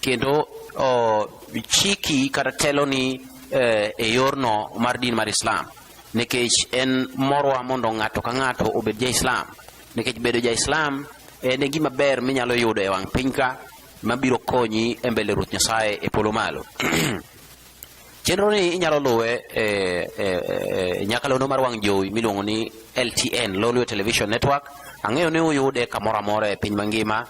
kendo chiki kata teloni eh, e yorno mar din mar Islam nikech en morwa mondo ng'ato ka ng'ato obed ja Islam nikech bedo ja Islam en e gima ber minyalo yudo e wang' pinyka mabiro konyi e mbele Ruoth Nyasaye e polo malo Chenro ni inyalo luwe e, e, e nyakalono mar wang' jowi miluongo ni LTN, Lolwe Television Network. Ang'eyo ni uyude kamoro amora e piny mangima.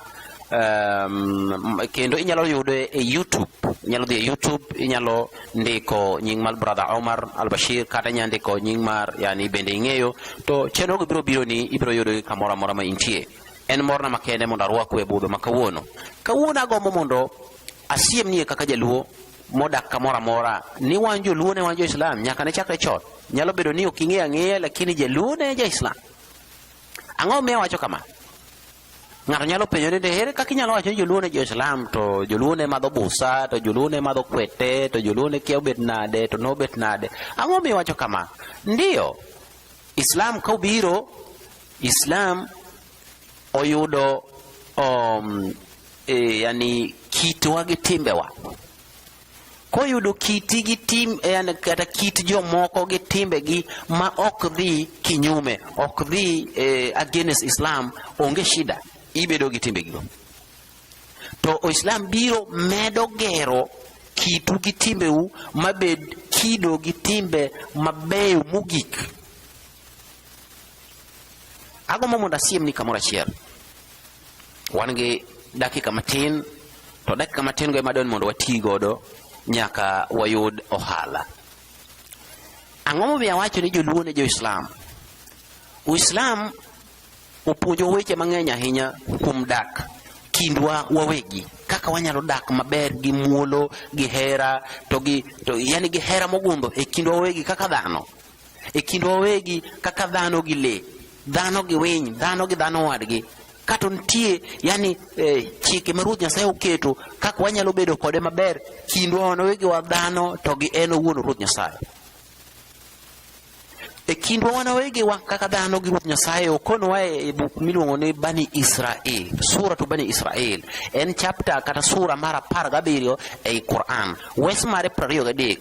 Um, kendo inyalo yude e YouTube, inyalo dhi e YouTube, inyalo ndiko nying mar Brother Omar Al-Bashir kata inyalo ndiko nying mar yani bende ing'eyo to chenro go biro biro ni ibiro yudo kamoro amora ma intie. En morna makende mondo arwaku e budho ma kawuono. Kawuono agombo mondo asiem nie kaka jaluo modak kamoro amora ni wan joluo ne wan jo islam nyaka ne chakre chon nyalo bedo ni ok ing'eyo ang'eya lakini jaluo ne ja islam ang'o miyo wacho kama ng'ato nyalo penjo ni ere kaka inyalo wacho ni joluo ne jo islam to joluo ne madho busa to joluo ne madho kwete to joluo ne kia obet nade to nobet nade ang'o miyo wacho kama ndiyo islam ka obiro islam oyudo um, e, yani kitwa gi timbewa koyudo kiti gi tim e, yani kata kit jomoko gi timbegi ma ok dhi kinyume ok dhi eh, against Islam onge shida ibedo gi timbegi to Islam biro medo gero kitu gi timbeu mabed kido gi timbe mabeyo mogik ago mo mondo asiemni kamoro achiel wan gi dakika matin to dakika matin go ema dwani mondo wati godo nyaka wayud ohala ang'o momiyo awacho ni joluo ne joislam uislam opuonjo weche mang'eny ahinya kuom dak kindwa wawegi kaka wanyalo dak maber gi muolo gi hera to gi to yani gi hera mogundho e kindwa wawegi kaka dhano e kindwa wawegi kaka dhano gi le dhano gi winy dhano gi dhano wadgi kato nitie yani eh, chike ma ruoth nyasaye oketo kaka wanyalo bedo kode maber kindwa wan wawegi wa dhano to gi en owuon ruoth nyasaye e kindwa wan wawegi wa kaka dhano gi ruoth nyasaye okonowa e, e buk miluongo ni bani israel sura to bani israel en chapta kata sura mar apar gabiriyo ei quran wes mare prariyo gadek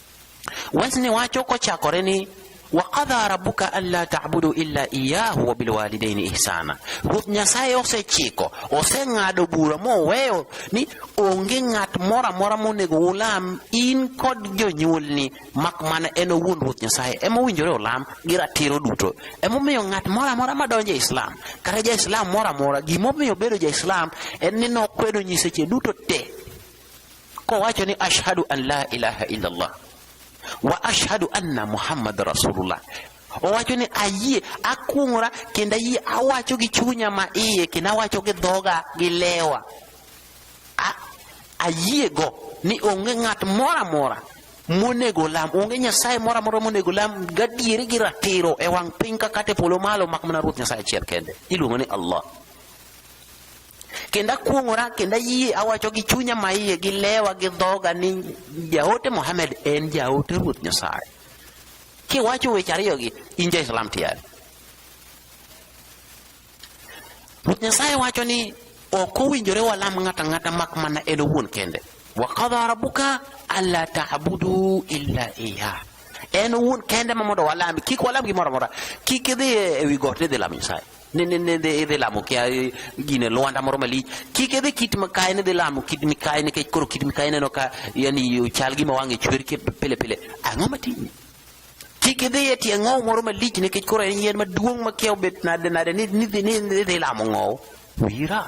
Wesni wacho kochakore ni wakadha rabuka alla tabudu illa iyahu wa bilwalidaini ihsana, Ruoth Nyasaye osechiko oseng'ado bura moweyo ni onge ng'at moro amora monego ulam in kod jonyuolni mak mana en owuon Ruoth Nyasaye ema owinjore olam gi ratiro duto. Emomiyo ng'at moro amora madonjo e Islam kata ja Islam moro amora gimomiyo obedo ja Islam en ni nokwedo nyiseche duto te kowacho ni ashhadu an la ilaha illallah wa ashhadu anna muhammad rasulullah owacho ni ayie akuong'ora kendo ayie awacho gi chunya ma iye kendo awacho gi dhoga gi lewa ayiego ni onge ng'at moro amora monego lam onge nyasaye moro amora monego lam gadieri gi ratiro e wang' piny kakate polo malo mak mana ruoth nyasaye achiel kende iluongo ni allah kendo akuong'ora kendo ayie awacho gi chunya maiye gi lewa gi dhoga ni jaote Mohamed en jaote Ruoth Nyasaye. Kiwacho weche ariyogi in ja Islam tiyari. Ruoth Nyasaye wacho ni ok owinjore walam ng'ata ng'ata mak mana en owuon kende. Wa qadha rabbuka alla ta'budu illa iya. En owuon kende ma mondo walam kik walam gimoro amora. Kik idhi e wi got ni idhi lamo Nyasaye. ne ne ne idhi lamo kia eh, gine lwanda moro malich kik idhi kit mikayi nidhi lamo kit mikayi nikech koro kit mikayi neno ka yani ochal gima wang'e chwer ke pile pile ang'o matimi kik idhi e tie ng'ow moro malich nikech koro en yien maduong' makia obet nade nade nidhi lamo ng'ow wira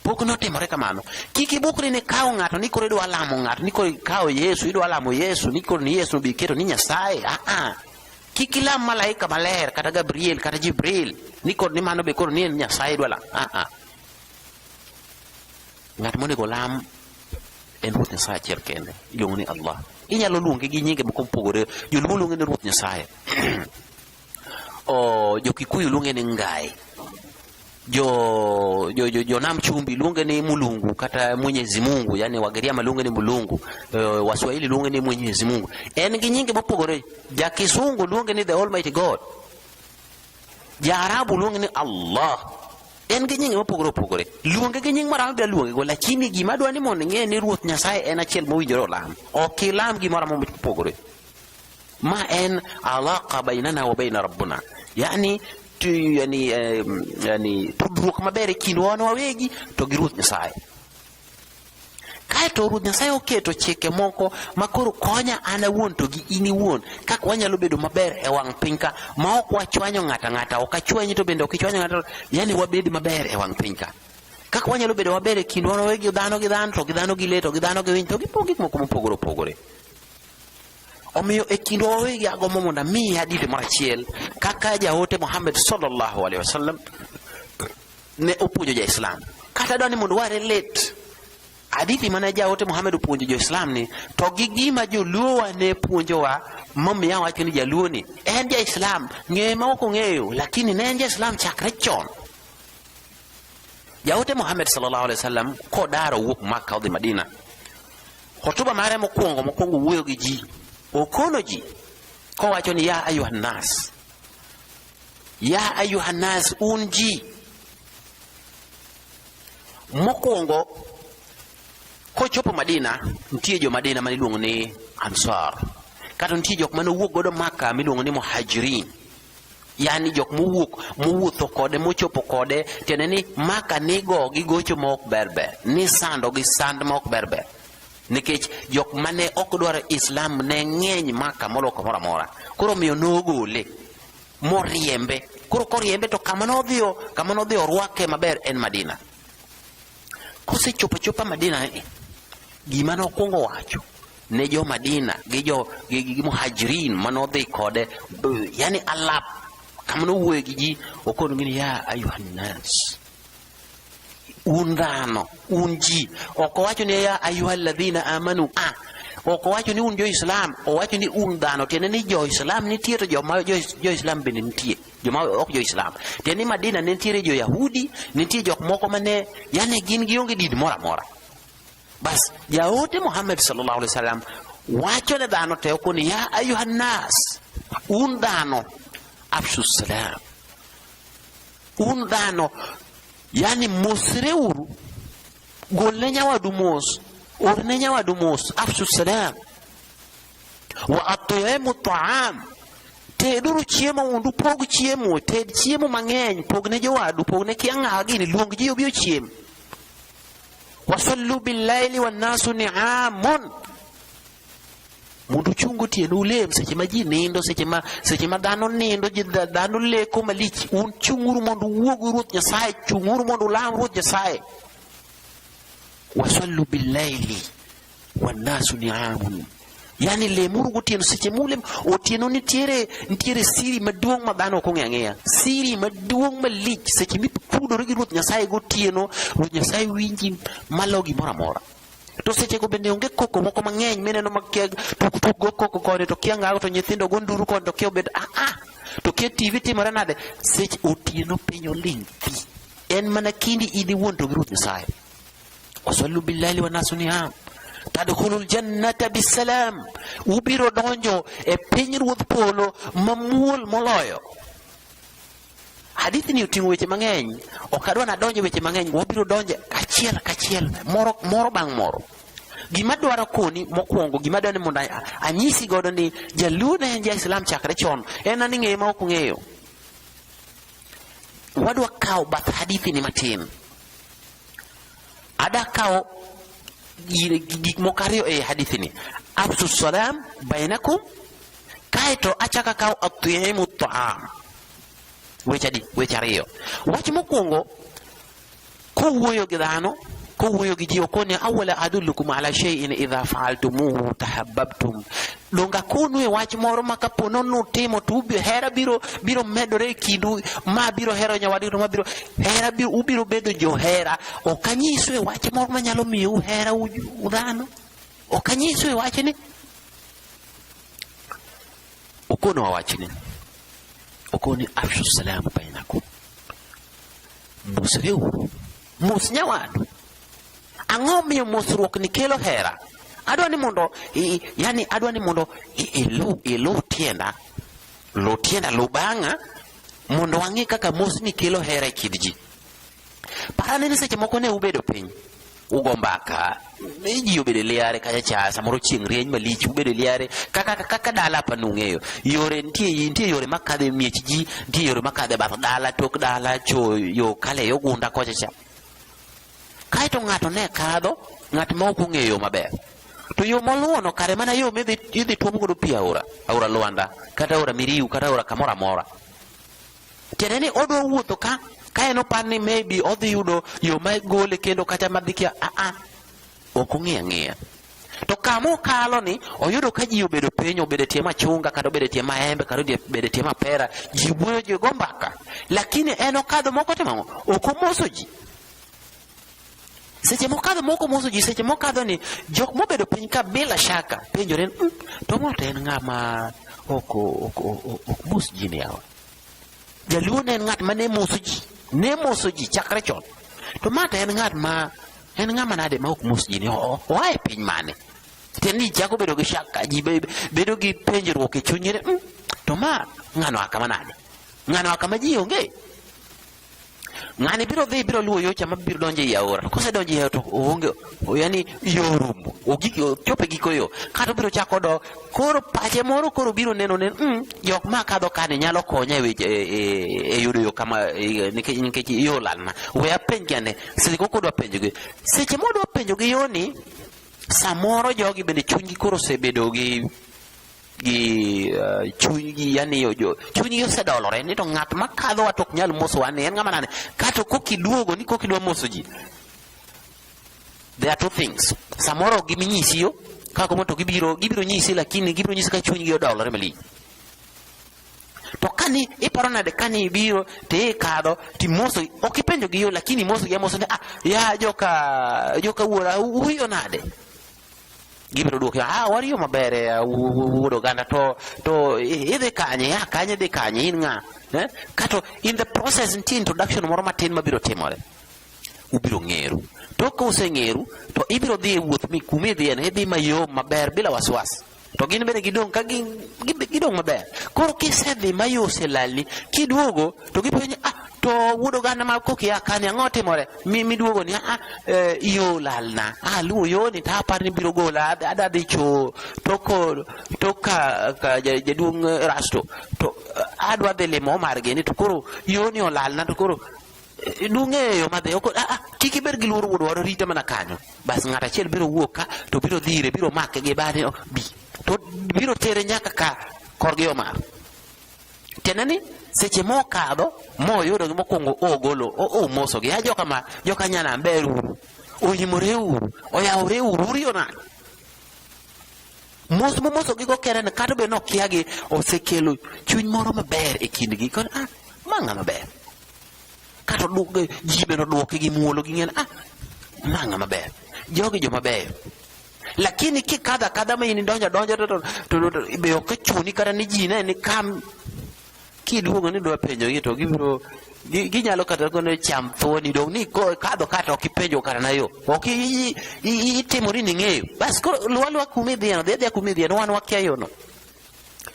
pok notimore kamano kik ibukri ni kawo ng'ato ni koro idwa lamo ng'ato ni koro ikawo yesu idwa lamo yesu ni koro ni yesu bi keto ni nyasaye aa ah, ah. Kik ilam malaika maler kata Gabriel kata Jibril ni kod ni mano be koro ni en Nyasaye idwa lamo. Ah ah. Ng'at monego lam en Ruoth Nyasaye achiel kende, iluongo ni Allah. Inyalo luonge gi nyinge moko mopogore. Joluo luonge ni Ruoth Nyasaye. o jo Kikuyu luonge ni Ngai. jo jo, jo, jo namchumbi lunge ni mulungu kata mwenyezi mungu yani wagiriama lunge ni mulungu uh, waswahili lunge ni mwenyezi mungu en gi nyinge mopogore ja kisungu lunge ni the almighty god ja arabu lunge ni allah en gi nyinge mopogore opogore luonge gi nying maramo bia luonge go lakini gima dwa ni mondo ing'e ni ruoth nyasaye en achiel mowinjore olam ok ilam gimoro amora mopogore ma en alaqa bainana wa baina rabbuna yani tu, yani, eh, yani tudruok maber e kindwa wan wawegi to gi ruoth nyasaye kaeto ruoth nyasaye oketo chike moko ma koro konya an awuon to gi in iwuon kaka wanyalo bedo maber e wang' piny ka ma ok wachwanyo ng'ata ng'ata ok achwanyi to bende ok ichwanyo ng'ata yani wabed maber e wang' piny ka kaka wanyalo bedo maber e kindwa wawegi dhano gi dhano to gi dhano gi le to gi dhano gi winy to gi gik moko mopogore opogore Omiyo e kindwa wawegi agombo mondo amiyi hadithi moro achiel kaka jaote Muhammad sallallahu alaihi wasallam ne opuonjo ja-Islam. Kata dwani mondo ware let hadithi mane jaote Muhammad opuonjo jo-Islam ni to gi gima joluowa ne puonjowa momiya wacho ni jaluo ni en ja-Islam ng'eye ma ok ong'eyo lakini ne en ja-Islam chakre chon. Jaote Muhammad sallallahu alaihi wasallam kodaro wuok Makka odhi Madina Hotuba mare mokwongo mokwongo wuoyo gi ji, okono ji kowacho ni ya ayuha nas, ya ayuha nas, un ji. Mokwongo kochopo Madina, nitie jo Madina maniluongo ni Ansar, kata nitie jok mane owuok godo Maka miluongo ni Muhajirin yani jok mowuok mowuotho kode mochopo kode tiende ni maka nigo gi gocho ma ok ber ber ni sando gi sand ma ok ber ber nikech jok mane ok dwaro islam ne ng'eny maka molo kamoro amora koro miyo nogole moriembe koro koriembe to kama nodhiyo kama nodhiyo orwake maber en madina kosechopo chopa madina eh, gima nokwongo wacho ne jo Madina gi jo gi, gi muhajirin manodhi kode yani alap kamano wuoyo gi ji okono gini ya ayuhannas un dhano un ji ok owacho ni ya ayuha alladhina amanu a ah, ok owacho ni un jo-Islam owacho ni un dhano tiende ni jo-Islam nitie to joma jo-Islam bende nitie joma ok jo-Islam tiende ni Madina ne nitiere jo-Yahudi nitie jok moko mane yani gin gionge din moro amora Bas jaote Muhammad sallallahu alaihi wasallam wacho ne dhano te ko ni ya ayuha nas un dhano afshu salam un dhano yani mosreuru golne nyawadu mos orne nyawadu mos afshu salam wa atimu taam teduru chiemo mondo upog chiemo ted chiemo mang'eny pogne jowadu pogne kiang'awa gini luong ji obi ochiem wasallu billaili wannasu niamun mondo uchungo tienu ulem seche ma ji nindo seche ma seche ma dhano nindo ji dhano leko malich un chung'uru mondo uwuogu ruoth nyasaye chung'uru mondo ulam ruoth nyasaye wasallu billaili wanasu ni amun yani lemuru gotieno seche mulem otieno nitiere nitiere siri maduong' ma dhano ok ong'e ang'eya siri maduong' malich seche mipudore gi ruoth nyasaye gotieno ruoth nyasaye winji malo gimoro amora to sechego bende onge koko moko mang'eny mineno makiag tuktuk go koko kode to kia ngago to nyithindo go nduru kode to kia obed aa ah, ah, to kia tv timore nade seche otieno piny oling thi en mana kindi in iwuon to gi ruoth nyasaye wasallu billali wa nasu niam tadkhulul jannata bisalam ubiro donjo e piny ruodh polo mamuol moloyo hadithi ni oting'o weche mang'eny ok adwa nadonje weche mang'eny wabiro donje kachiel kachiel moro moro bang' moro gima dwaro koni mokwongo gima dwaro ni mondo anyisi godo ni jaluo ne en ja islam chakre chon en ani ng'eye ma ok ng'eyo wadwa kawo bath hadithi ni matin Ada kawo gik moko ariyo e hadithini, afsu salam bainakum, kaeto achaka kawo atimu taam. Weche adi? Weche ariyo. Wach mokwongo kowuoyo gi dhano kowuoyo gi ji okone awala adullukum ala shay'in idha fa'altumuhu tahabbabtum donge akonue wach moro ma kapo ni nutimo to hera biro biro medore e kindu ma biro hero nyawadu to ma biro hera biro ubiro bedo johera ok anyisue wach moro ma nyalo miyo uhera udhano ok anyisue wachni okonowa wachni okoni afshu salamu bainakum mosreuru mos nyawadu Ang'o miyo mosruok ni kelo hera? Adwa ni mondo i, yani adwa ni mondo ilu ilu tienda lu tienda lu bang'a mondo wang'e kaka mosni kelo hera e kind ji. Parane ni seche moko ne ubedo piny ugo mbaka ji obedo e liare kacha cha samoro chieng' rieny malich ubedo e liare kaka kaka dala apa nung'eyo yore nitie nitie yore makadhe miech ji nitie yore makadhe bath dala tok dala cho yo kale yo gunda kocha cha Kaeto ng'ato ne kadho, ng'at ma ok ong'eyo yo maber. To yo moluwono kare mana yo midhi idhi tuom godo pi aora, aora Lwanda, kata aora Miriu, kata aora kamoro amora. Tiende ni odwa wuotho ka ka en opar ni maybe odhi yudo yo ma gole kendo kata madhi kia a ah, a ah. ok ong'e ang'eya. To kama okalo ni oyudo ka ji obedo piny, obedo tie machunga, kata obedo tie maembe, kata obedo tie mapera, ji wuoyo, ji go mbaka, lakini en okadho moko timo ang'o? Ok omoso ji. Seche mokadho moko omoso ji, seche mokadho ni jok mobedo piny ka bila shaka penjore ni mm, to ng'ato en ng'ama ok mos ji ni yawa. Jaluo ne en ng'at ma ne moso ji, ne moso ji chakre chon. To ma to en ng'at ma en ng'ama nade ma ok mos ji ni o- oa e piny mane? Tiende ni chako bedo gi shaka, ji be- bedo gi penjruok e chunygi ni, "Mm, to ma ng'ano a kama nade? Ng'ano a kama ji onge? Ng'ani biro dhi biro luwo yocha ma biro donjo ei aora. Kose donjo ei aora to oonge yani yo rumo. Ogik chope giko yo. Kata obiro chako do koro pache moro koro biro neno ne mm, jok ma kadho kani nyalo konya e, e, e, e yudo yo kama e, nikech nikech yo lalna. We apenj kane seche koko dwa penjo gi. Seche modwa penjo gi yoni samoro jogi bende chunygi koro osebedo gi gi uh, chunygi yani jo chunygi osedolore ni to ng'at ma kadhowa to ok nyal mosowa ni en ng'ama nane kato kokiduogo ni kokidwa moso ji there are two things samoro giminyisi yo kako moto gibiro gibiro nyisi lakini gibiro nyisi ka chunygi odolore malich to kani iparo nade kani ibiro to ikadho timoso ok ipenjo gi yo lakini imoso gi amoso ni ah ya joka joka wuora uyo nade gibiro dwoke ah wari yo maber eh, wu- wu- wuod oganda to to i- idhi kanye ya kanye idhi kanye in ng'a eh? kato in the process nitie introduction moro matin mabiro timore ubiro ng'eru tok ka useng'eru to ibiro dhi e wuoth mi kuma idhiyeno idhi mayom maber bila wasiwasi to gin bende gidong' ka gi, gi, gidong' maber koro kisedhi ma yo oselalni kiduogo to gipenjo ni ah to wuod oganda ma kokia kani ang'o timore mi miduogo ni ah eh, yo lalna ah luwo yoni to apar ni biro gola ad- adwa dhi cho toko toka ka ja- jaduong' eh, rasto to eh, adwa dhi limo omargi ni to koro yoni olalna to koro dung'eyo madhi ok ah, ah, kik ibed gi luoro wuod waro rite mana kanyo bas ng'at achiel biro wuok ka to biro dhire biro make gi bade oh, bi to biro tere nyaka ka korgi omar tiende ni seche mokadho moyudo gi mokwongo ogolo omosogi a joka ma joka nyana ber uru oyimore uru oyawore uru uriyo nani mos momosogi go kere ni kata bed nokiagi osekelo chuny moro maber e kindgi kod ah, ma ng'a maber Kato dwok ji bende odwoke gi muolo gi ng'en ah ma ng'a maber. Jogi joma beyo. Lakini kikadho akadha ma in idonjo adonja to to be ok chuni kata ni ji ne ni kam kiluongo ni dwa penjo gi to gibiro ginyalo kata kono cham thuoni dong ni kadho kata ok ipenjo kata na yo ok itimori ni ng'eyo bas koro luwa luwa kuma idhiyeno dhi adhiya kuma idhiyeno wan wakia yono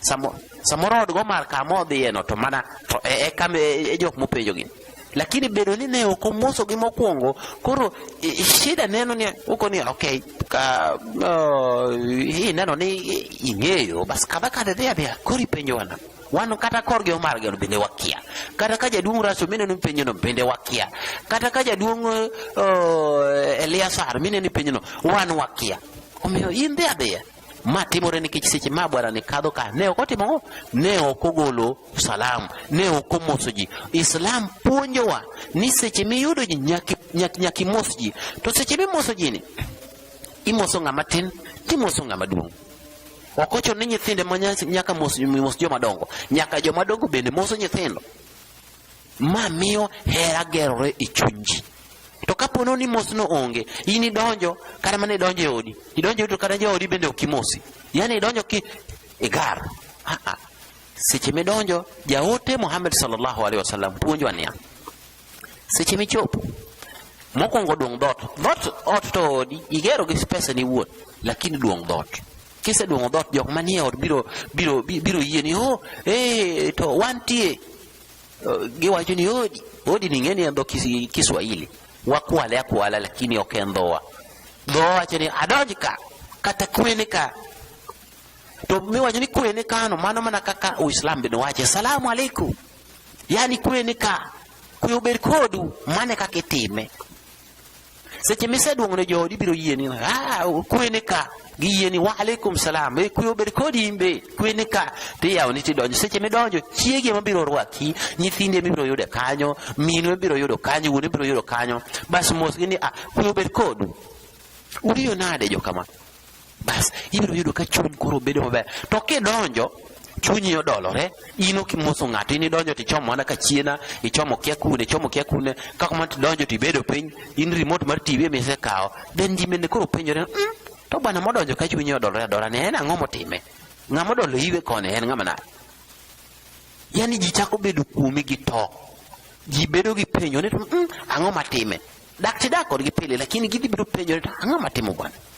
Samo, samoro od Gomar kama odhiyeno to mana to e, e, kam, e, e jok mopenjogi lakini bedo ni ne ok omosogi mokwongo koro e, e, shida neno ni uko ni okay ka uh, hii neno ni ing'eyo bas kadha kadha dhi adhiya koro ipenjo wana wan kata korgi omar geno bende wakia kata ka jaduong' raso mineno penjono bende wakia kata ka jaduong' uh, eliasar mineno penjono wan wakia omiyo in dhi adhiya ma timore nikech seche ma bwana ne kadho ka ne ok otimo ang'o ne ok ogolo salam ne ok omoso ji islam puonjowa ni seche miyudo ji nyaki- nyak- nyaka imos ji to seche mimoso ji ni imoso ng'ama tin timoso ng'ama duong' ok ochuno ni nyithinde ma nya- nyaka mos mos joma dongo nyaka joma dongo bende moso nyithindo Ma miyo hera gerore e chuny ji. To kapo ni mosno onge, in idonjo kata mana idonjo e odi, idonjo e odi to kata joodi bende ok imosi. Yaani idonjo ki igar. Ah ah. Seche midonjo, jaote Muhammad sallallahu alaihi wasallam puonjwa niya, seche michopo mokwongo duong' dhoot dhoot ot to odi igero gi pesa ni wuon lakini duong' dhoot Kiseduong'o dhoot jok manie ot biro biro biro yie ni oh eh to wantie eh, giwacho ni odi odi ni ng'eni en dho Kiswahili wakwale akwala lakini ok en dhowa dhowa wacho ni adonj ka kata kwene ka to miwacho ni kwene kano mano mana kaka Uislam bende wache salamu alaikum yani kwene ka kwe obed kodu mane kaka itime seche miseduong'o ne joodi ibiro yie ni ah, kwe ni ka giyie ni wa alaikum salam e kwe obed kodi in be kwe ni ka tiyawoni tidonjo seche midonjo chiegi ema biro rwaki nyithindi ema ibiro yude kanyo minu ibiro yudo kanyo wuon ibiro yudo kanyo bas mosgi ni ah, kwe obed kodu uriyo nade jokama bas ibiro yudo ka chuny koro bedo maber to kidonjo chunyi odolore in ok imoso ng'ato in idonjo to ichomo mana kachiena ichomo kia kune ichomo kia kune kaka mana tidonjo to ibedo piny in remote mar tv ema isekawo then ji mende koro penjore mm, to bwana modonjo ka chunyi odolore adora ne en ang'o motime ng'ama odolo iwe koni en ng'ama nade yani ji chako bedo kuomi gi to ji bedo gi penjo ni to mm, ang'o matime dak tidak kodgi pile lakini gidhi biro penjo ni to ang'o matimo bwana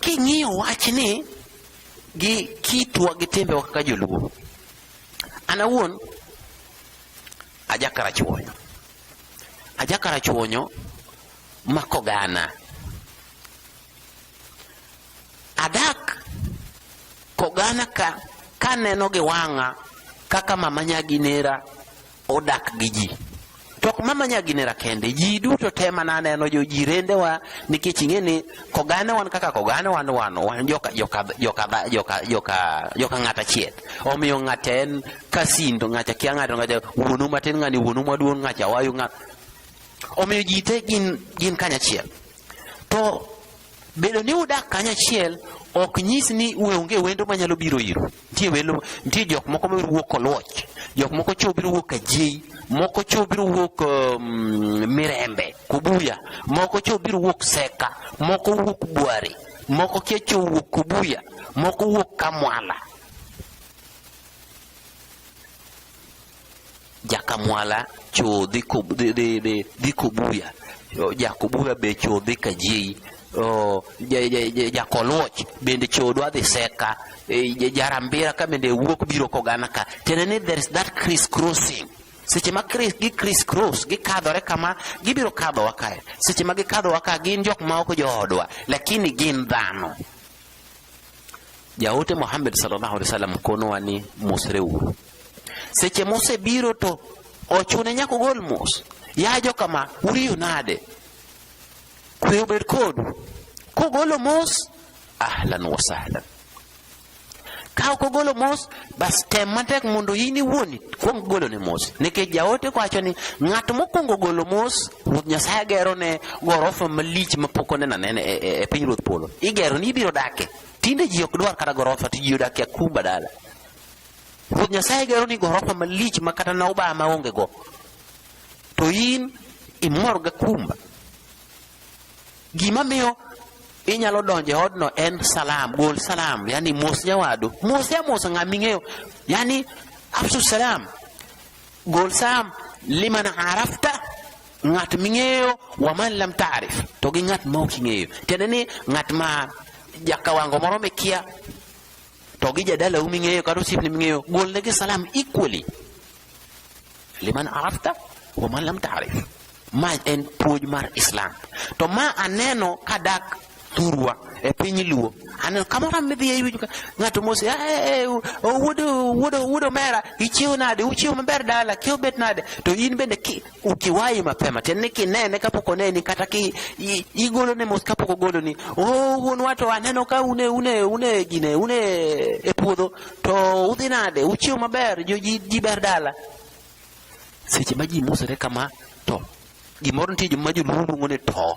King'iyo wachni gi kitwa gi timbewa kaka joluo, an awuon ajakarachuonyo ajakarachuonyo makogana adak kogana ka kaneno gi wang'a kaka mama nyagi nera odak gi ji to ok mama nyaginera kende ji duto te mana aneno jo ji rendewa nikech ing'e ni kogane wan kaka kogane wan wan wan joka joka joka joka joka joka ng'ata chiet omiyo ng'ata en kasin to ng'ata kia ng'ato ng'ata wuonu matin ng'ani wuonu maduong' ng'acha wayu ng'at omiyo ji te gin gin kanyachiel to bedo ni udak kanyachiel ok nyis ni uonge wendo manyalo biro iru nitie welo nitie jok moko mabiro wuok koluoch jok moko cho biro wuok kajiei moko cho biro wuok um, mirembe kubuya moko cho biro wuok seka moko wuok bware moko kia cho wuok kubuya moko wuok kamwala Jakamwala cho dhi ko dhi dhi dhi dhi kobuya O, jakobuya be cho dhi kajeyi O, ja- ja- ja- jakoluoch bende cho dwa dhi seka E, ja- jarambira ka bende wuok biro kogana ka tiende ni there is that criss crossing seche ma Chris- gi criss cross gikadhore kama gibiro kadhowa kae seche ma gikadhowa ka gin jok ma ok joodwa lakini gin dhano jaote Muhammad sallallahu alaihi wasallam konowa ni mosreuru Seche mosebiro to ochune nyaka ogol mos. Ya joka ma, uriyo nade? Kwe obed kodu. Kogolo mos, ahlan wa sahlan. Ka ok ogolo mos, bas tem matek mondo in iwuon kuong golo ne mos. Nikech jaote kwacho ni ng'at mokwongo golo mos, Ruoth Nyasaye gero ne gorofa malich mapok oneno anena e, e, e piny Ruoth Polo. Igero ni ibiro dake. Tinde ji ok dwar kata gorofa, to ji odakie akumba dala. Ruoth Nyasaye gero ni gorofa malich ma kata na uba maonge go. To in imor ga kumba. Gima miyo inyalo donje odno en salam, gol salam, yani mos nyawadu. Mos ya mos ng'ama ing'eyo. Yani afsu salam. Gol salam liman arafta ng'at ming'eyo wa man lam ta'rif to gi ng'at ma ok ing'eyo. Tiende ni ng'at ma jakawango moro mikia to gi jadalau ming'eyo kata osiepni ming'eyo golnegi salam equally liman arafta wa man lam taarif ma en puonj mar islam to ma aneno kadak thurwa e piny luo aneno kamoro midhi e iwinjo ng'ato mose ah, eh, eh, wuodo wuodo wuodo mera ichiew nade uchiew maber dala kiew bet nade to in bende ukiwahi mapema tena nikinene kapok oneni kata ki igolone mos kapok ogoloni oh, wuon wato aneno ka une une une gine une e puodho to udhi nade uchiew maber jo ji, ji ber dala seche ma ji mosore kama to gimoro nitie joma joluo luongo ni to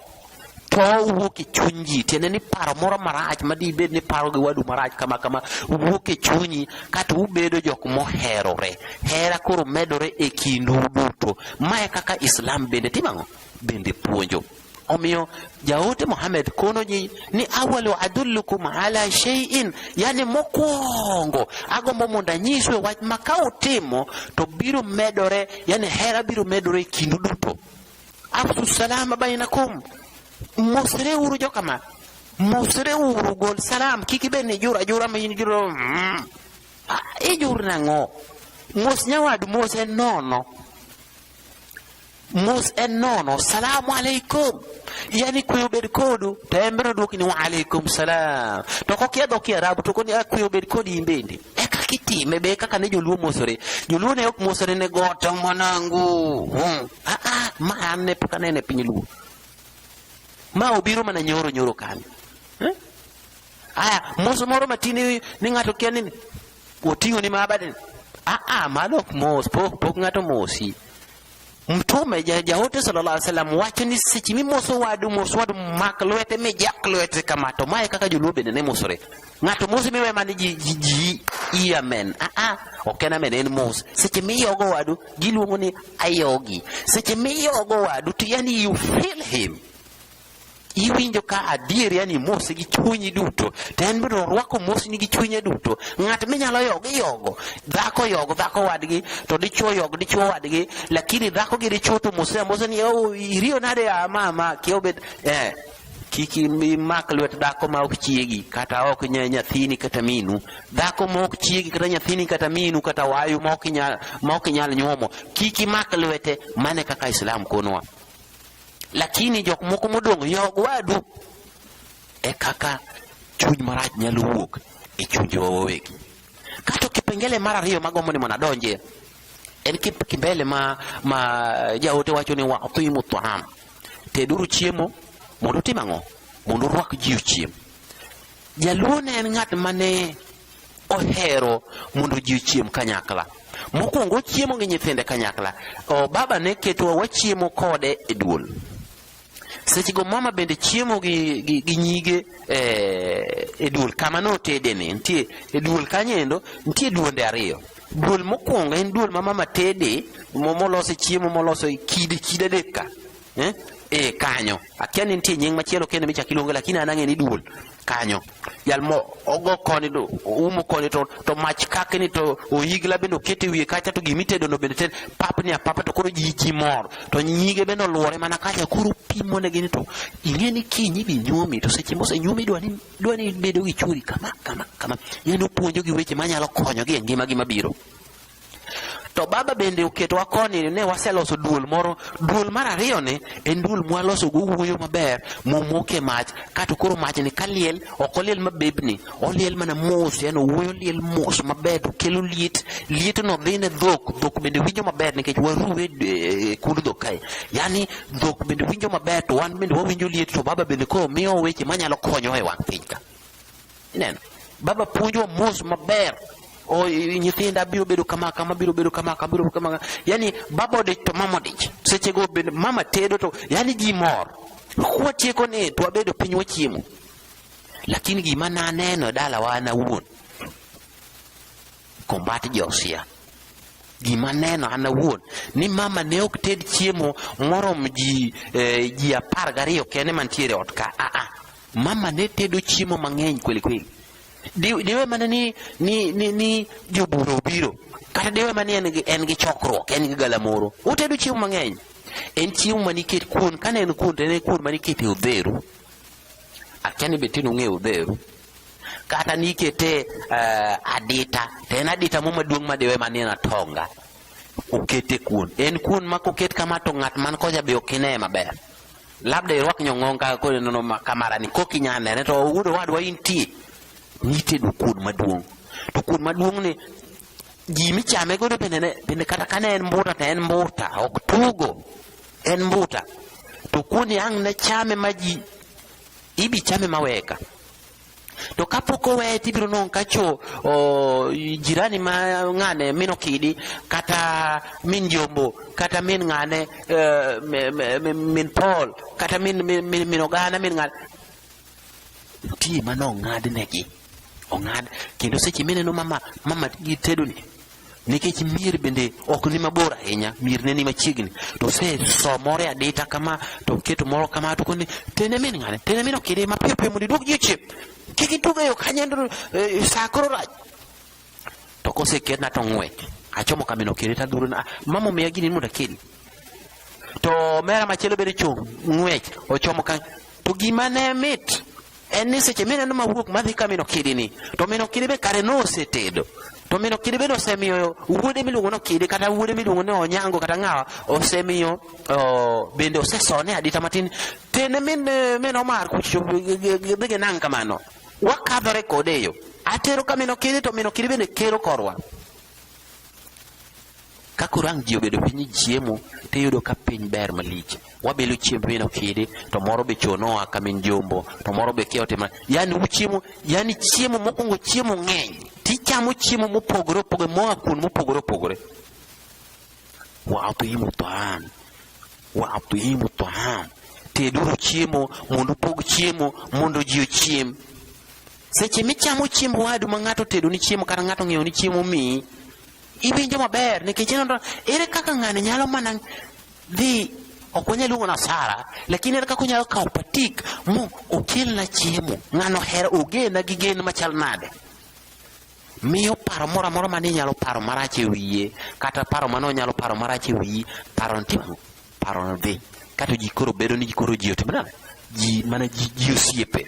to wuok e chuny ji tiende ni paro moro marach ma dibed ni paro gi wadu marach kama kama wuok e chunyi kata ubedo jok moherore hera koro medore e kindu duto mae kaka islam bende timang'o bende puonjo omiyo jaote Muhammad kono ji ni awalu adullukum ala shay'in yani mokwongo agombo mondo anyiswe wach ma ka utimo to biro medore yani hera biro medore e kindu duto afsu salaama baynakum mosre wuru jokama mosre wuru gol salam kik ibed ni jura jura ma in juro mm. Ah, ijur nang'o mos nyawadu mos en nono mos en nono salamu alaikum yani kuyo bed kodu to en biro dwoki ni wa alaikum salam to kokia dho kiarabu to koni kuyo bed kodi in bende e kaka itime be kaka ne joluo mosore joluo ne ok mosore ne goto mwanangu hmm. Ah, ah, ma an ne pok anene piny luo ma obiro mana nyoro nyoro kanyo eh? aya moso moro matin ni ng'ato kia ni oting'o ni mabadeni aa ah, ah, mano ok mos pok pok ng'ato mosi mtume jaote sallallahu alaihi wasallam wacho ni seche mimoso wadu mos wadu mak lwete mijak lwete kama to mae kaka joluo bende ne mosore Ng'ato mos miwe man ji ji ji iya men. Ah ah. Ok en amen en mos. Seche miyogo wadu giluongo ni ayogi. Seche miyogo wadu to yani you feel him. Iwinjo ka adier yani mos gi chunyi duto. To en biro rwako mos ni gi chunye duto. Ng'at minyalo yogo iyogo. Dhako yogo dhako wadgi to dichuo yogo dichuo wadgi. Lakini dhako gi dichuo to mos mos ni oh iriyo nade ah, mama kiobet eh kik imak lwet dhako ma ok chiegi kata ok nya nyathini kata minu dhako ma ok chiegi kata nyathini kata minu kata wayu ma ok nyal ma ok nyal nyuomo kik imak lwete mane kaka islam konwa lakini jok moko modong' yog wadu e kaka chuny marach nyalo wuok e chunjewa wawegi kato kipengele mar ariyo magombo ni mondo adonjie en kipengele ma ma jaote wacho ni watimu taam teduru chiemo mondo utim ang'o mondo urwak ji ochiem jaluo ne en ng'at mane ohero mondo ji ochiem kanyakla mokwongo ochiemo gi nyithinde kanyakla o baba ne ketowa wachiemo kode e duol seche go mama bende chiemo gi, gi, gi nyige eh, e duol kama notedene nitie e duol kanyendo nitie duonde ariyo Duol mokwongo en duol ma mama tede molose chiemo molose kidi kida deka eh? e kanyo akia ni nitie nying machielo kendo michak iluonge lakini an ang'e ni duol kanyo jal mo ogo koni to umo koni to, to mach kake ni to oyigla bende okete wiye kacha to gimi tedo no bende ted pap ni apapa to koro ji ji mor to nyige bende oluore mana kacha koro pimo ne gini to ing'e ni kinyi bi nyuomi to seche mose nyuomi idwa ni dwa ni bedo gi churi kama kama kama, yani opuonjo gi weche manyalo konyogi e ngimagi mabiro. To baba bende oketowa koni ne waseloso duol moro. Duol mar ariyo ni en duol mwaloso go wuoyo maber momoke mach kato koro mach ni kaliel ok oliel mabebni oliel mana mos yani wuoyo liel mos maber to kelo liet liet no dhi ne dhok dhok bende winjo maber nikech waruwe e, e, kund dhok kae yani dhok bende winjo maber to wan bende wawinjo liet to baba bende koro miyo weche manyalo konyowa e wang' piny ka ineno baba puonjwa mos maber o nyithinda biro bedo kama kama biro bedo kama kama biro kama yani baba odich to mama odich seche go bende mama tedo to yani ji mor kwatieko ni to wabedo piny wachiemo lakini gima naneno e dalawa an awuon Combat Josia. Gima neno an awuon ni mama ne ok ted chiemo morom ji eh, ji apar gariyo kende mantiere ot ka. Ah, ah. Mama ne tedo chiemo mang'eny kweli kweli. Diwe mana ni, ni, ni, ni jobura obiro kata diwe mana ni en gi, en gi chokruok en gi galamoro otedo chiemo mang'eny en chiemo maniket kuon kane en kuon to en kuon maniket e odheru akia ni be tin ung'eyo odheru kata nikete uh, eh, adita to en adita mo maduong' madiwe manie na tonga okete kuon en kuon ma koket kama to ng'at man koja be ok ine maber labda irwak nyong'ong kaka koro nono kamarani kok inya nene to wuod owadwa intie nitedo kuon maduong' to kuon maduong' ni ji michame godo bende bende kata kane en mbuta to en mbuta ok tugo en mbuta to kuon yang' ne chame ma ji Ibichame maweka. To kapok oweye to ibiro nong' ka cho o, jirani ma ng'ane min okidi kata min jombo kata min ng'ane eh, mi- mi- mi- min Paul kata min, min, min, min ogana min ng'ane nitie mane ong'adnegi ong'ad kendo seche mineno mama mama gi tedoni nikech mier bende ok ni mabor ahinya mier ne ni machiegni to se somore adita kama to keto moro kama to koni tene min ngane tene min okide ma piyo piyo mondo idwog ji chip kik itug eyo kanye e, saa koro rach to kose ketna to ng'wech achomo kamino kire ta dhuro na ah, mama omiya gini mondo akedi to mera machielo bende chung' ng'wech ochomo ka to gima ne mit en ni seche mineno mawuok madhi ka mino kidini to mino kidi be kare nosetedo to mino kidi bende osemiyo wuode miluongo ni okidi kata wuode miluongo ni onyango kata ng'awa osemiyo bende osesone adita matin tene min min omar kucho dhi gi nang' kamano wakadhore kode e yo atero ka mino kidi to mino kidi bende kero korwa ka koro ang' ji obedo piny chiemo to iyudo ka piny ber malich wabilo chiemb min okidi to moro be chuo noa ka min jombo to moro be kia otima yani uchiemo yani chiemo mokwongo chiemo ng'eny tichamo chiemo mopogore opogore moa kuon mopogore opogore waatuimu toan waatuimu toan teduru chiemo mondo upog chiemo mondo ji ochiem Seche michamo chiemb wadu ma ng'ato tedo ni chiemo kata ng'ato ng'iewo ni chiemo miyi, iwinjo maber nikech ineno ere kaka ng'ani nyalo mana dhi ok wanyal luongo na sara lakini ere kaka onyalo kawo patik mo okelna chiemo ng'ano hera ogena gi gen machal nade miyo paro moro amora mane inyalo paro marach e wiye kata paro mane onyalo paro marach e wiyi paro ntimo paro dhi kato ji koro bedo ni koro ji otimnade ji mana ji osiepe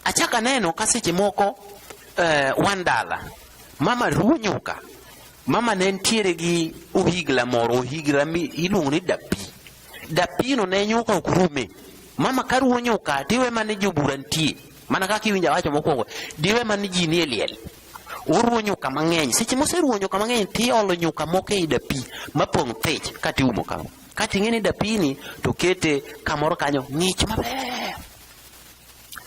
Achako aneno ka seche moko eh, wan dala, mama ruwo nyuka, mama ne nitiere gi ohigla moro, ohigla iluongo ni dapi. Dapino ne nyuka ok rume. Mama ka ruwo nyuka, tiwe mane jobura nitie, mana kaka iwinja wacho mokwongo, diwe mane ji nie liel uruwo nyuka mang'eny seche moseruwo nyuka mang'eny tiolo nyuka moko ei dapi mapong' thich katiumo kama kati ing'e ni dapini to kete kamoro kanyo ng'ich maber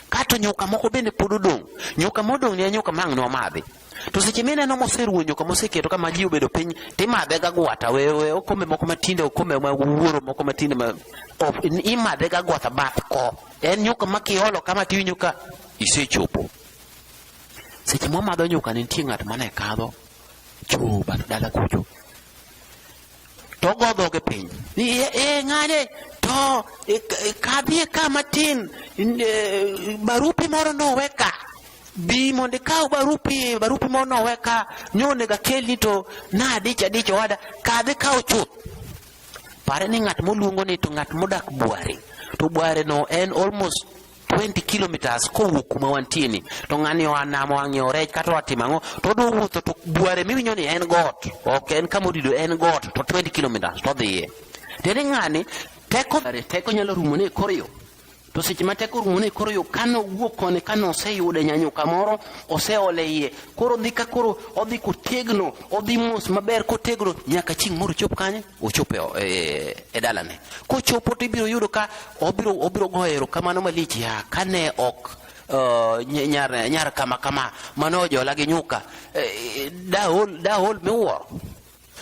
Kato nyuka moko bende pod odong'. Nyuka modong' ni en nyuka mang' nomadhi. To seche mineno moseruwo nyuka moseketo kama ji obedo piny timadhe ga gwata we we okombe moko matinde okombe ma wuoro moko matinde ma of- imadhe ga gwata bath ko. En nyuka ma kiolo kama tiwinjo ka isechopo. Seche mwamadho nyuka nitie ng'at mane kadho choo bath dala kucho. to ogo dhoge piny ni e, e ng'ane to e, e, kadhie ka matin e, barupi moro nowe ka bi mondo ikaw barupi barupi moro nowe ka nyonego akelni to nadich adich owada kadhi kaw chuth pare ni ng'at moluongo ni to ng'at modak bware to bware no en almost 20 kilometers kowuok kuma wantie ni to ng'ani oa nam oa ng'iewo rech kata oa timo ang'o to odwa wuotho to bware miwinjo ni en got ok en kama odido en got to 20 kilometers to odhiye tiende ng'ani teko teko nyalo rumo ne kor yo to seche ma teko rumo ne koro yo kano wuok koni kano oseyude nyanyo kamoro oseole iye koro odhi ka koro odhi kotegno odhi mos maber kotegno nyaka chieng' moro chop kanye ochopo e, e dalane. Kochopo to ibiro yudo ka obiro obiro goyo erokamano malich ya kane ok uh, nyar nyar kama kama mane ojola gi nyuka eh, dahol dahol miwuoro.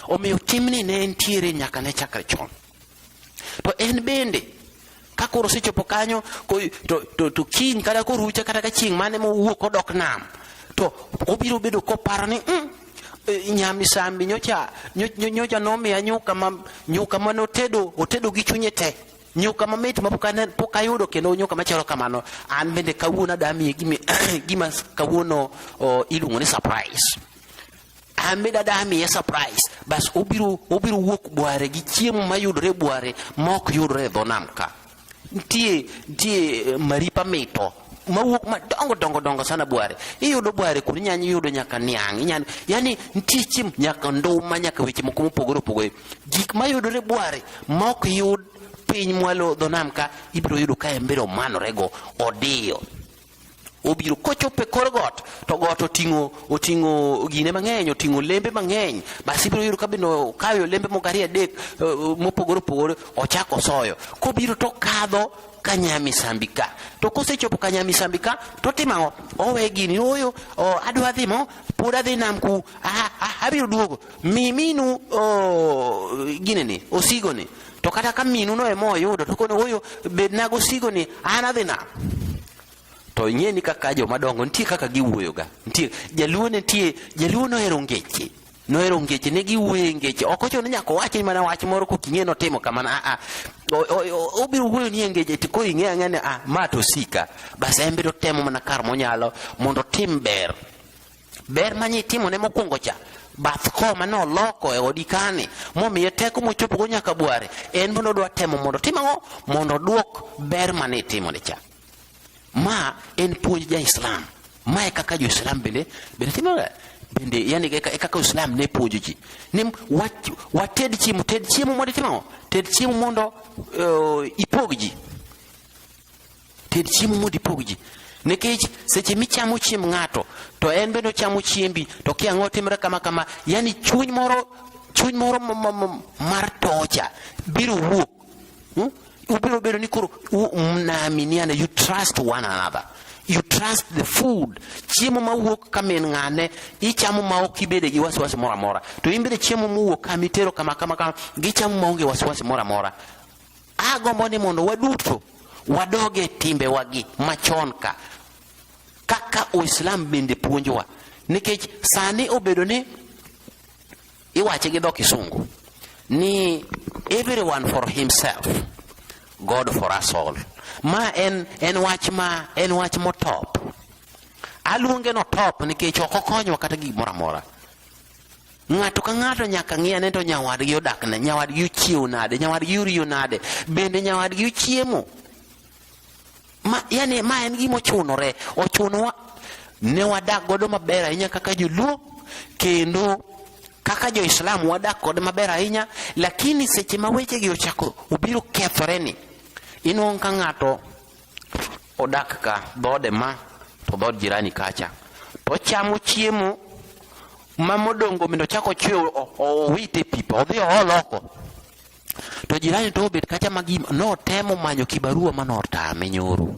Omiyo timni ne entiere nyaka ne chakre chon. To en bende ka koro osechopo kanyo ko- to, to, to kiny kata korucha kata ka chieng' mane mowuok odok nam to obiro bedo koparo ni mm, eh, nyamisambi nyocha nyo- nyo- nyocha nomiya nyuka ma nyuka mane otedo otedo gi chunye te nyuka mamit ma pok ane- pok ayudo kendo nyuka machalo kamano an bende kawuono adamiye gima, gima kawuono oh, iluongo ni surprise ambe dada amiye surprise bas obiro obiro wuok bware gi chiemo mayudore bware mok yudore e dho nam ka nitie nitie eh, maripa mito mawuok madongo dongo dongo sana bware iyudo bware kuni nyanya iyudo nyaka niang' inyalo yani nitie chiemo nyaka nduma nyaka weche moko mopogore opogore gik mayudore bware mok yud piny mwalo dho nam ka ibiro yudo ka embere omanorego odiyo obiro kochopo e kor got to got oting'o oting'o gine mang'eny oting'o lembe mang'eny basi ibiro yudo kabende okayo lembe moko ariyo adek eh, eh, mopogore opogore ochako osoyo kobiro to kadho kanyamisambi ka to kosechopo kanyamisambi ka totimo ang'o owe gini oyo adwa dhi mo pod adhi nam ku abiro duogo mi minu gineni osigoni To kata ka minu no ema oyudo to kono oyo bedna gosigo ni an adhi nam. To ing'e ni kaka joma dongo nitie kaka giwuoyoga. Nitie jaluo nitie jaluo nohero ngeche. Nohero ngeche ne giwuoye ngeche. Ok ochuno ni nyaka owachi mana wach moro kok ing'e notimo kamano. Ah ah. Obiro wuoyo ni ngeche to ko ing'e ang'e ni ah ma to sika. Bas en biro temo mana kar monyalo mondo otim ber. ber ma nyitimone mokwongo cha bath ko mane oloko e odi kane momiye teko mochopogo nyaka bware en mondo odwa temo mondo tim ang'o mondo odwok ber mane itimone cha ma en puonj ja islam ma e kaka jo islam bende bende timoga bende yani e kaka islam ne puonjo ji ni wated chiemo ted chiemo mondo itimo ted chiemo mondo uh, ipog ji Ted chiemo mondo ipog ji. Nikech seche michamo chiemb ng'ato to en bende ochamo chiembi to kia ang'o timre kama kama, yani chuny moro chuny moro mar tocha biro wuok. Hmm? Ubiro bedo ni koro mnaaminiana, you trust one another you trust the food chiemo mawuok ka min ng'ane ichamo ma ok ibede gi wasiwasi moro amora to in bende chiemo mowuok kama itero kama kama kama gichamo maonge wasiwasi moro amora Agombo ni mondo waduto wadoge timbewagi machon ka kaka Uislam bende puonjowa, nikech sani obedo ni iwache gi dho Kisungu ni everyone for himself God for us all. Ma en, en wach ma en wach motop. Aluonge no top nikech ok okonyo kata gimoro amora. Ng'ato ka ng'ato nyaka ng'i ane to nyawadgi odak ne, nyawadgi ochiewo nade, nyawadgi oriyo nade, bende nyawadgi ochiemo. Ma, yani ma en gima ochunore, ochunowa ne wadak godo maber ahinya kaka joluo kendo kaka jo-Islam wadak kode maber ahinya, lakini seche ma wechegi ochako obiro kethoreni, inuang' ka ng'ato odak ka dhoode ma to dhood jirani kacha to ochamo chiemo ma modongo mino chako chwe owite pipa odhi ool oko to jirani to obet kacha ma gima notemo manyo kibarua ma notame nyoro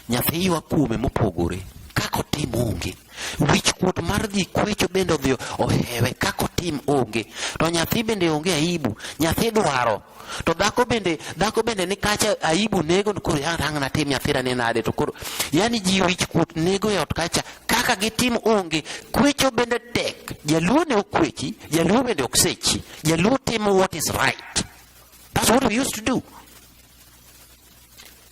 nyathi ywa kuome mopogore kako tim onge wich kuot mar dhi kwecho bende odhi ohewe kako tim onge to nyathi bende onge aibu nyathi dwaro to dhako bende dhako bende ni kacha aibu nego koro yarang natim nyathira ni nade to koro yani ji wich kuot nego e ot kacha kaka gitim onge kwecho bende tek jaluo ne okwechi jaluo bende ok sechi jaluo timo what is right that's what we used to do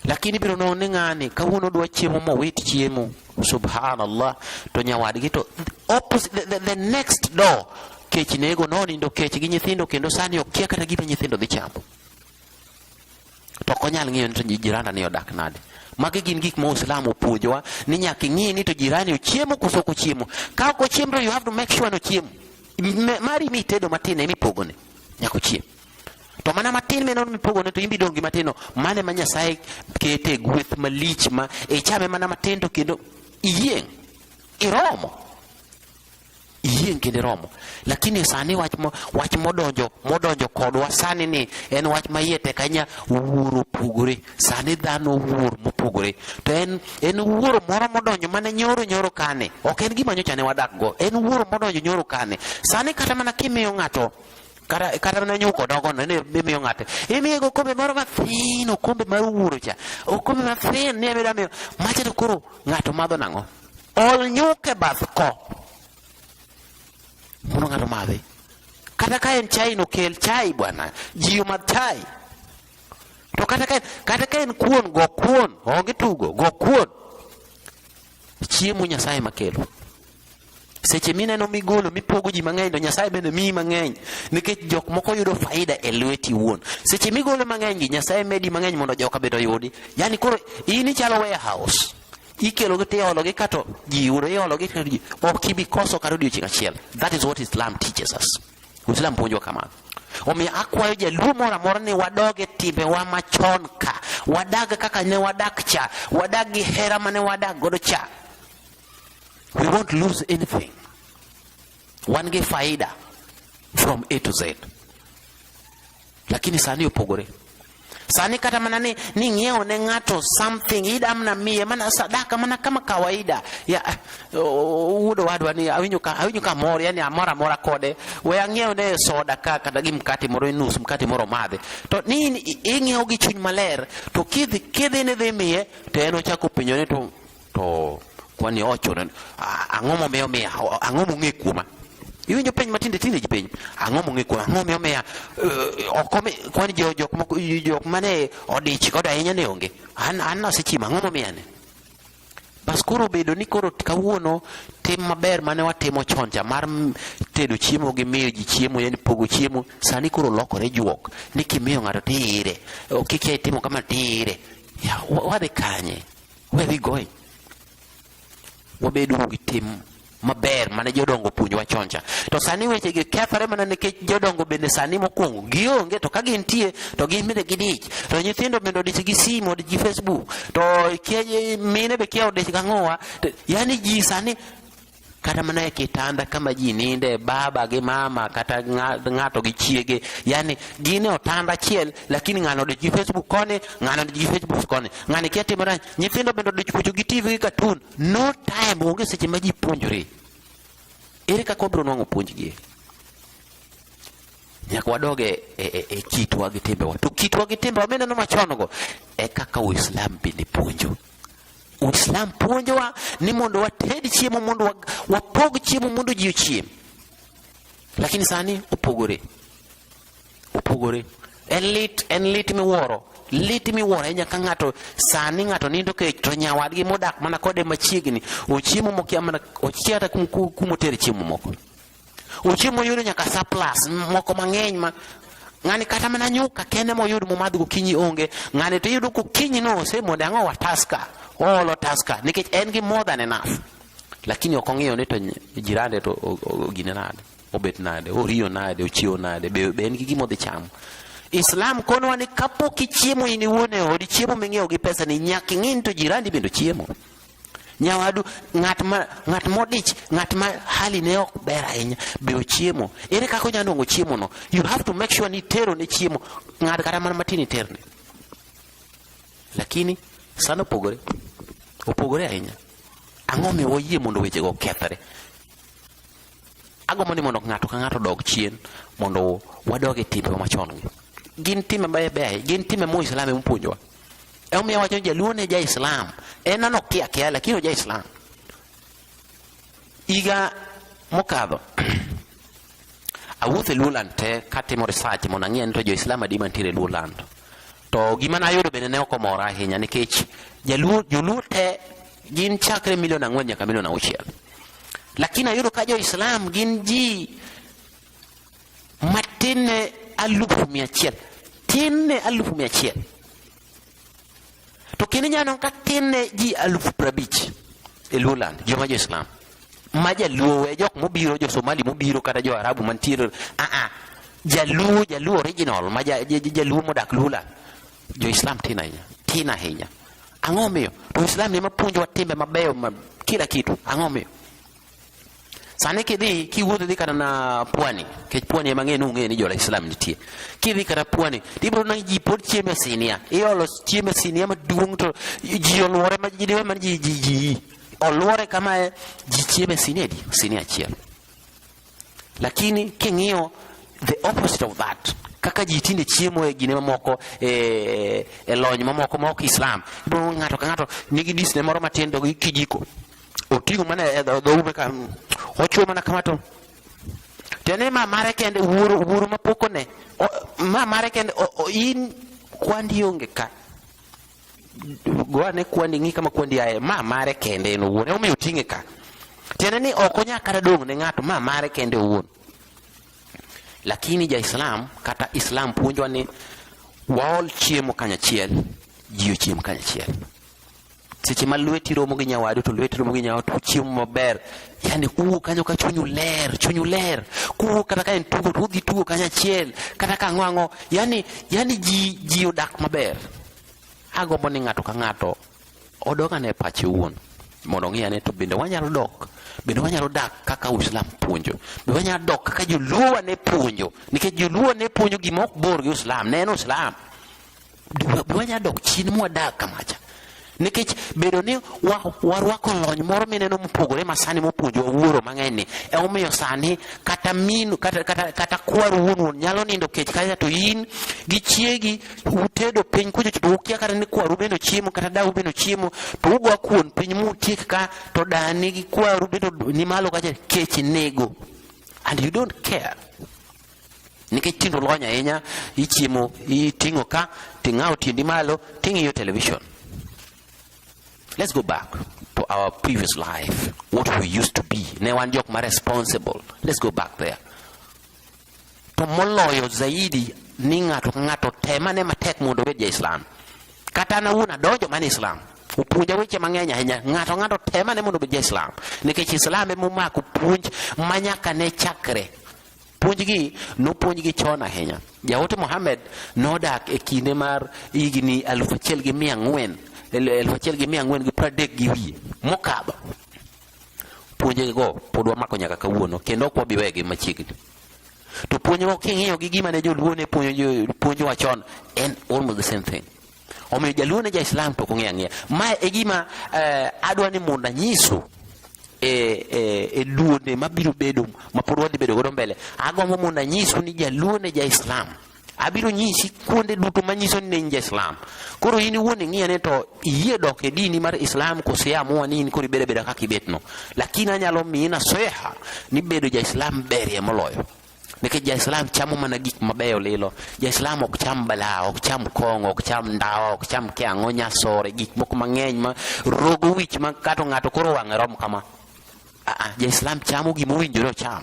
lakini biro none ng'ani kawuono dwa chiemo mowit chiemo subhanallah to nyawadgi to opposite, the, the, the next door kech nego nonindo kech gi nyithindo kendo sani okia kata gima nyithindo dhi chamo to ok onyal ng'iyo ni to jiranda ni odak nade magi gin gik ma uislamu opuonjowa ni nyaka ing'i ni to jirani ochiemo koso ok ochiemo ka ok ochiemo to you have to make sure ni ochiemo mari mi itedo matin emi pogone nyaka ochiemo to mana matin meno mipogone to imbi dongi matino mane ma nyasaye kete e gweth malich ma ichame mana matin to kendo iyieng' iromo iyieng' kendo iromo lakini sani wach mo, wach modonjo modonjo kodwa sani ni en wach ma iye tek ahinya wuoro opogore sani dhano wuor mopogore to en en wuoro moro modonjo mana nyoro nyoro kane ok en gima nyocha ne wadak go en wuoro modonjo nyoro kane sani kata mana kimiyo ng'ato kata kata na nyuko dogo no ne miyo ng'ate imiye go kombe moro mathin okombe mar wuoro cha okombe mathin ne meda miyo macha to koro ng'ato madho nang'o ol nyuke bath ko mondo ng'ato madhi kata ka en chai no kel chai bwana jiyo madh chai to kata ka kata ka en kuon go kuon onge tugo go kuon Chiemo Nyasaye makelo. Seche mineno migolo mipogo ji mang'eny to Nyasaye bende miyi mang'eny nikech jok moko yudo faida e lweti wuon. Seche migolo mang'eny gi Nyasaye medi mang'eny mondo joka bende oyudi. Yaani koro in ichalo warehouse. Ikelo gi tiolo gi kato ji yudo iolo gi ok ibi koso kata odiochieng' achiel. That is what Islam teaches us. Islam puonjo kamano. Omiyo akwayo jaluo moro amora ni wadog e timbewa machon ka, wadag kaka ne wadak cha, wadag gi hera mane wadak godo cha. We won't lose anything. Wan gi faida from A to Z. lakini sani opogore sani kata mana ni ni ng'iewo ne ng'ato something ida mna miye mana sadaka mana kama kawaida ya wuodo wadwa ni awinyo ka awinyo ka mor yani amora mora kode we ang'iewo ne soda ka kata gi mkate moro nus mkate moro madhe to ni ing'iewo gi chuny maler to kidhi kidhi ne dhi miye to en ochako penyo ni to to kwani ocho na ang'o momiyo miya ang'o mong'e kuoma iwinjo penj matinde tinde ji penj ang'o mong'e kuoma ang'o momiyo miya eh, oko kwani jok jok mane odich koda ahinya ne onge an an nasechima ang'o momiya ne bas koro bedo ni koro kawuono tim maber mane watimo chon cha mar tedo chiemo gi miyo ji chiemo yani pogo chiemo sani koro lokore juok ni kimiyo ng'ato tiire kik itimo kama tiire wadhi kanye Where we going? Wabedo gi tim maber mane jodongo puonjwa chon cha. To sani weche gi kethore mana nikech jodongo bende sani mokwongo gionge to ka gintie to gin bende gidich. To nyithindo bende odich gi simu, odich gi Facebook. To mine be kia odich gang'owa. Yani ji sani kata mana e kitanda kama ji ninde baba gi mama kata ng'ato gi chiege yani gin e otanda achiel lakini ng'ano odich gi facebook koni ng'ano odich gi facebook koni ng'ani kia timo rach nyithindo bende odich puonjo gi tv gi katun no time onge seche ma ji puonjore ere kaka wabiro nwang'o puonjgi nyaka wadog e, e, e, e kitwa gi timbewa to kitwa gi timbewa mineno machon go e kaka uislam bende puonjo Uislam puonjowa ni mondo wated chiemo mondo wapog chiemo mondo ji ochiem, lakini sani opogore opogore. En lit en lit miwuoro lit miwuoro ahinya ka ng'ato sani ng'ato nindo kech to nyawadgi modak mana kode machiegni ochiemo mokia mana ochiata kumotere chiemo moko Uche moyudo nyaka surplus moko mang'eny ma ng'ani kata mana nyuka kende moyud momadh gokinyi onge ng'ani to iyudo kokinyi no osemode ang'o wa taska oolo taska nikech en gi more than enough lakini ok ong'iyo ni to jirande to gine nade obet nade oriyo nade ochiewo nade be, be en gi gima odhi chamo islam konowa ni kapok ichiemo in iwuon e odi chiemo ming'iewo gi pesa ni nyaka ing'e ni to jirandi bende ochiemo nyawadu ng'at ma ng'at modich ng'at ma hali ne ok ber ahinya be ochiemo ere kaka onyalo nongo chiemo no you have to make sure ni tero ne chiemo ng'ad kata mana matin iterne lakini sana opogore opogore ahinya ang'o miyo wayie mondo wechego okethre Agombo ni mondo ng'ato ka ng'ato odog chien mondo wadog e timbe machon gi. Gin timbe mabeyo beyo, gin timbe mo Islam ema puonjowa. Ema miyo wacho jaluo ne ja Islam. En an ok kia kia lakini oja Islam. Iga mokadho awuotho e Luoland te katimo research mondo ang'e ni to jo Islam adi mantiere e Luoland. To gima nayudo bende ne ok omora ahinya nikech jaluo joluo te gin chakre milion ang'wen nyaka milion auchiel. Lakini ayudo ka jo Islam gin ji matin ne alufu mia achiel. Tin ne alufu mia achiel. To kendo inyalo ka tin ne ji alufu prabich e Luoland, joma jo Islam. ma jaluo we jok mobiro jo somali mobiro kata jo arabu mantiere aa ah, ah. jaluo jaluo original ma jaluo modak lula jo islam tin ahinya tin ahinya ang'o miyo to islam ema puonjowa timbe mabeyo ma kila kitu ang'o miyo sani kidhi kiwuotho dhi kata na pwani kech pwani ema ng'e nung'e ni jola islam nitie kidhi kata pwani tibiro na ji pod chiemo e sinia iolo chiemo e sinia maduong' to ji oluore ma ji diwe man ji ji ji Oluore kamae, ji chieme sinedi, sini achiel. Lakini king'iyo the opposite of that kaka ji tinde chiemo e gine mamoko e, e lony mamoko ma ok Islam. Ibo ng'ato ka ng'ato nigi disne moro matin to gi kijiko. Oting'o mana e dhoube ka ochuo mana kama to tene ma mare kende wuoro wuoro mapokone ma mare kende in kwandi onge ka goane kwandi ng'i kama kwandi aye ma mare kende en owuon emomiyo oting'e ka tiende ni ok onya kata dong' ne ng'ato ma mare kende owuon lakini jaislam kata islam puonjwa ni waol chiemo kanyachiel ji ochiem kanyachiel seche ma lweti romo gi nyawadu to lweti romo gi nyawadu to chiemo maber Yani kuwuok kanyo ka chunyu ler, chunyu ler. Kuwuok kata ka en tugo to udhi tugo kanyo achiel, kata ka ang'o Yani, yani ji, ji odak maber. Agombo ni ng'ato ka ng'ato odog ane pache wuon mondo ong'i ane to bende wanyalo dok bende wanyalo dak kaka Uislamu puonjo. Be wanyalo dok kaka Joluo ne puonjo, nikech Joluo ne puonjo gima ok bor gi Uislamu, ne en Uislamu. wanya dok chien mwadag kamacha nikech bedo ni warwako lony moro mineno mopogore ma sani mopuonjowa wuoro mang'eny ni emomiyo sani kata min kata, kata, kata kwar wuon wuon nyalo nindo kech kacha to in gi chiegi utedo piny kucho to ukia kata ni kwaru bende chiemo kata dau bende chiemo to ugo kuon piny mutiek ka to dani gi kwaru bende ni malo kacha kech nego and you don't care nikech tinde olony ahinya ichiemo iting'o ka ting'awo tiendi malo ting'iyo television let's go back to our previous life what we used to be ne wan jok ma responsible let's go back there to moloyo zaidi ni ng'ato ka ng'ato temane matek mondo obed ja islam kata an awuon adonjo mana islam opuonja weche mang'eny ahinya ng'ato ng'ato temane mondo obed ja islam nikech islam emomako puonj manyaka ne chakre Puonjgi nopuonjgi chon ahinya. Jaote Mohammed nodak e kinde mar higni alufu achiel gi mia ang'wen alufu achiel gi mia ang'wen gi pradek gi wiye mokadho. Puonjego pod wamako nyaka kawuono kendo ok wabi wegi machiegni. To puonjgo king'iyo gi gima ne joluo ne puonjowa chon en almost the same thing. omiyo jaluo ne jaislam to ok ong'eyo ang'eya mae e gima eh, adwa ni mondo anyisu e, e, e duonde mabiro bedo mapod wadhi bedo godo mbele agombo mondo anyisu ni jaluo ne jaislam abiro nyisi kuonde duto manyiso ni in ja-Islam. Koro in iwuon ing'iya ni to iyie dok e dini mar Islam kose amua ni in koro ibeda beda kaka ibetno. Lakini anyalo miyi naseha ni bedo ja-Islam berie moloyo. nikech jaislam chamo mana gik mabeyo lilo jaislam ok cham bala ok cham kong'o ok cham ndawa ok cham kiang'o nyasore gik moko mang'eny ma rogo wich ma kato ng'ato koro wang'e rom kama aa jaislam chamo gima owinjore ocham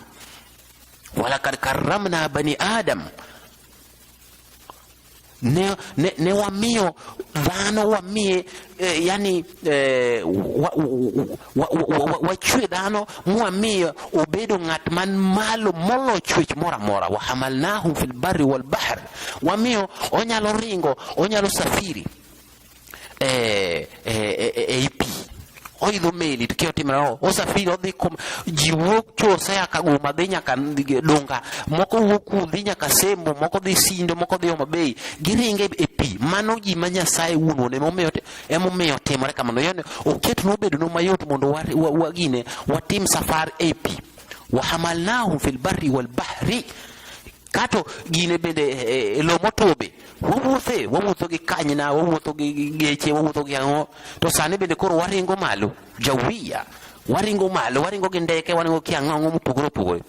walakad karramna bani adam ne, ne, ne wamiyo dhano wamiye eh, yani eh, wachwe dhano mwamiyo obedo ng'at man malo molo chwech moro amora wahamalnahu fil barri wal bahr wamiyo onyalo ringo onyalo safiri eh, eh, eh, eh, AP oidho meli tukiwa timu nao osafiri odhi kom ji wuok chose akaguma dhi nyaka dunga moko wuok ku dhi nyaka sembo moko dhi sindo moko dhi omabei giringe e pi mano ji ma nyasaye wuon wuon emomiyo emomiyo timore kamano yani oket nobedo no mayot mondo wagine watim safar e pi wahamalnahum fil barri wal bahri Kato gine bende e, e lo motwo be wawuothe wawuotho gi kanyna wawuotho gi geche wawuotho gi ang'o to sani bende koro waringo malo jawiya waringo malo waringo gi ndeke waringo gi ang'o ang'o mopogore opogore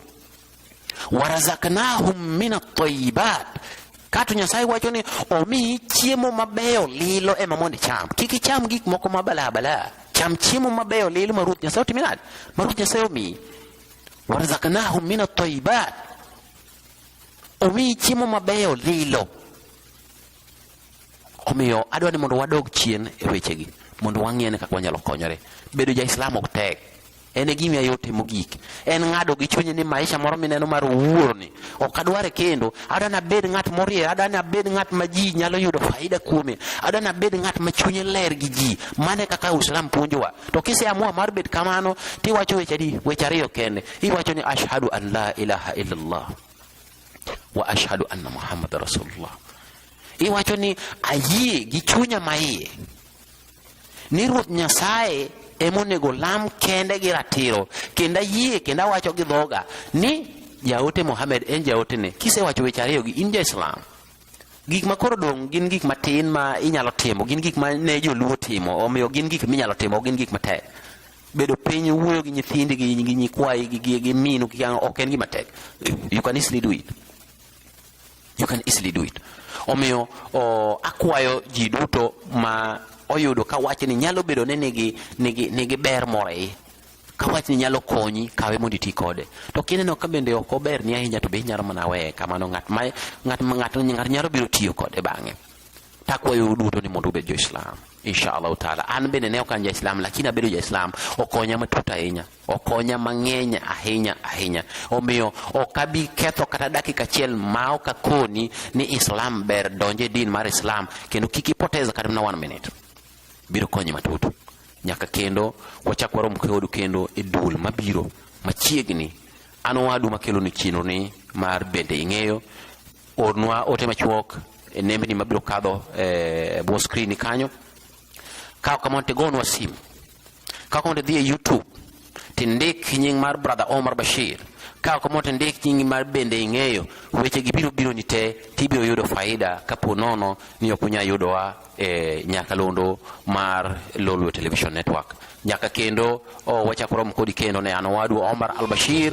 warazaknahum min atayibat kato nyasaye wacho ni omiyi chiemo mabeyo lilo ema mondo icham kik icham gik moko mabalabala cham chiemo mabeyo lilo ma ruoth nyasaye otimi nade ma ruoth nyasaye omiyi warzaknahum min at-tayyibat, omiyi chiemo mabeyo lilo. Omiyo adwa ni mondo wadog chien e wechegi mondo wang'e ni kaka wanyalo konyore. Bedo ja Islam ok tek, en e gima yot e mogik. En ng'ado gi chunyi ni maisha moro mineno mar wuorni Ok adware kendo. Adwa ni abed ng'at morie, adwa ni abed ng'at ma ji nyalo yudo faida kuome. Adwa ni abed ng'at ma chunye ler gi ji. Mano e kaka Uislamu puonjowa. To kiseamua mar bet kamano, tiwacho weche adi? Weche ariyo kende. Iwacho ni ashhadu an la ilaha illallah wa ashhadu anna Muhammad rasulullah. Iwacho ni ayie gi chunya maiye ni Ruoth Nyasaye emonego lam kende gi ratiro kendo ayie kendo awacho gi dhoga ni jaote Mohamed en jaotene. Kisewacho weche ariyo gi in ja Islam. Gik ma koro dong' gin gik matin ma inyalo timo, gin gik ma ne joluo timo, omiyo gin gik minyalo timo, gin gik matek. Bedo piny wuoyo gi nyithindi gi nyikwayi gi gi minu gi ok en gima tek. You can easily do it. You can easily do it. Omiyo o, akwayo ji duto ma oyudo ka wachni nyalo bedo ni nigi, nigi, nigi ber moro e iye ka wachni nyalo konyi kawe mondo iti kode to kineno ka bende ok oberni ahinya to be inyalo mana weye kamano ng'at ma ng'at ma- ng'ato ng'ato nyalo biro tiyo kode bang'e takwayo duto ni mondo ubed jo-islam inshallah taala an bende ne ok an ja-islam lakini abedo ja-islam okonya matut ahinya okonya mang'eny ahinya ahinya. Omiyo ok abi ketho kata dakika achiel ma ok akoni ni Islam ber donje din mar Islam kendo kik ipoteza kata na one minute. Biro konyi matut. Nyaka kendo wachak warom kodu kendo e dul mabiro machiegni an wadu makelo ni chino ni mar bende ing'eyo ornwa ote machuok e nembni mabiro kadho e bwo skrini kanyo. Kaw kamano tigonwa simu Ka konde dhi e YouTube tindik nying mar brother Omar Bashir ka komo tindik nying mar bende ing'eyo weche gi biro biro ni te tibiro yudo faida kapo nono ni ok unya yudowa e nyakalondo mar Lolwe Television Network nyaka kendo oh, wachako romo kodi kendo ne an owadu Omar Al Bashir